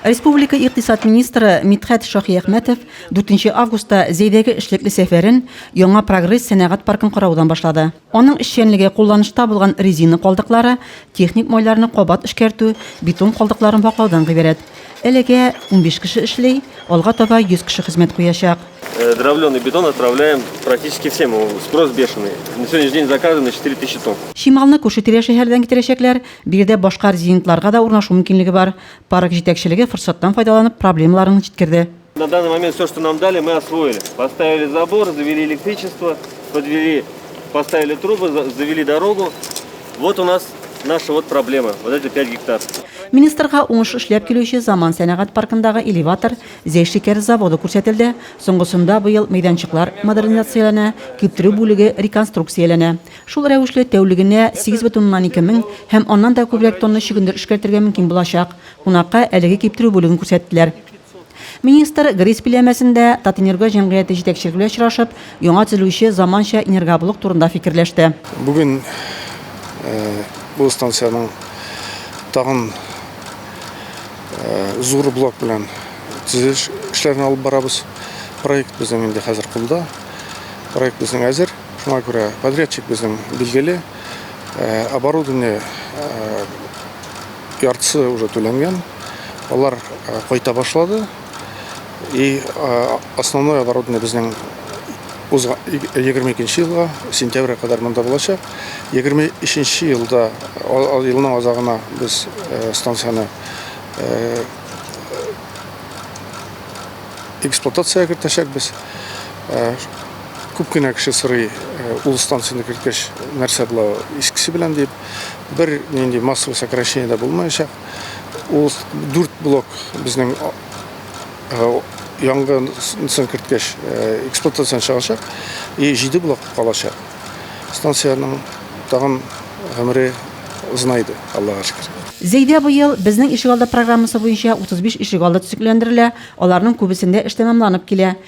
Республика икътисад министры Мидхәт Шаһиәхмәтов 4 августта Зәйдәге эшлекле сәфәрен Яңа прогресс сәнәгать паркын караудан башлады. Аның эшчәнлеге кулланышта булган резина калдыклары, техник майларны кабат эшкәртү, бетон калдыкларын ваклаудан гыйбарәт. Әлегә 15 кеше эшли, алга таба 100 кеше хезмәт куячак. Дровленый бетон отправляем практически всем, спрос бешеный. На сегодняшний день заказано 4000 тонн. Чималны күрше-тирә шәһәрдән китерәчәкләр, Биредә башка резидентларга да урнашу мөмкинлеге бар. Парк җитәкчелеге форсаттан файдаланып проблемаларын җиткерде. На данный момент все, что нам дали, мы освоили. Поставили забор, завели электричество, подвели, поставили трубы, завели дорогу. Вот у нас наша вот проблема, вот эти 5 гектар. Министрга уңыш эшләп килүче Заман сәнәгать паркындагы элеватор, Зәй шикәр заводы күрсәтелде. Соңгысында быел мәйданчыклар модернизацияләнә, киптерү бүлеге реконструкцияләнә. Шул рәвешле тәүлегенә 8,2 мең һәм аннан да күбрәк тонна чөгендер эшкәртергә мөмкин булачак. Кунакка әлеге киптерү бүлеген күрсәттеләр. Министр ГРИС биләмәсендә Татэнерго җәмгыяте җитәкчелеге белән очрашып, яңа төзелүче заманча энергоблок турында фикерләште. Бүген бу станциянең тагын зур блок белән төзелеш эшләрен алып барабыз. Проект безнең инде хәзер кулда. Проект безнең әзер. Шуңа күрә подрядчик безнең билгеле, оборудование яртысы уже түләнгән, алар кайта башлады. И основное оборудование безнең узга 22 елга сентябрьгә кадәр монда булачак. 23 елда елның азагына без станцияне эксплуатация кертәчәкбез. Күп кенә кеше сорый, ул станцияне керткәч, нәрсә була искесе белән дип. Бер нинди массовый сокращение дә булмаячак. Ул дүрт блок безнең янгынсын керткәч эксплуатациядән чыгачак и җиде блок калачак. Станциянең тагын гомере озынайды, Аллага шөкер. Зәйдә быел Безнең ишегалды программасы буенча 35 ишегалды төзекләндерелә, аларның күбесендә эш тәмамланып килә.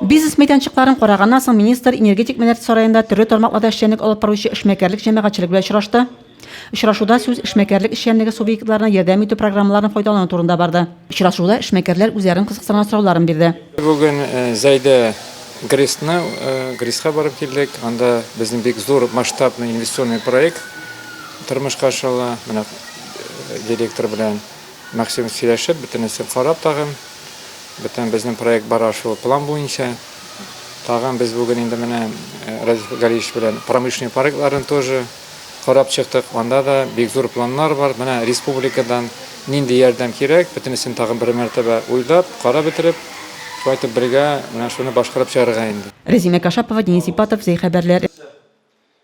Бизнес мәйданчыкларын караганнан соң министр Энергетик мәдәнияте сараенда төрле тармакларда эшчәнлек алып баручы эшмәкәрлек җәмәгатьчелеге белән очрашты. Очрашуда сүз эшмәкәрлек эшчәнлеге субъектларына ярдәм итү программаларын файдалану турында барды. Очрашуда эшмәкәрләр үзләрен кызыксырган сорауларын бирде. Бүген Зәйдә ГРИСны ГРИСка барып килдек. Анда безнең бик зур масштабный инвестиционный проект тормышка ашырыла. Менә директор белән. Максим сөйләшеп, бөтенесен карап тагын, бөтен безнең проект бара шул план буенча. Тагын без бүген инде менә Радиф Галиевич белән промышленный паркларын тоже карап чыктык. Анда да бик зур планнар бар. Менә республикадан нинди ярдәм кирәк, бөтенесен тагын бер мәртәбә уйлап, карап бетереп, шулай итеп бергә менә шуны башкарып чыгарырга инде. Рәзинә Кашапова, Денис Ипатов, Зәй хәбәрләр.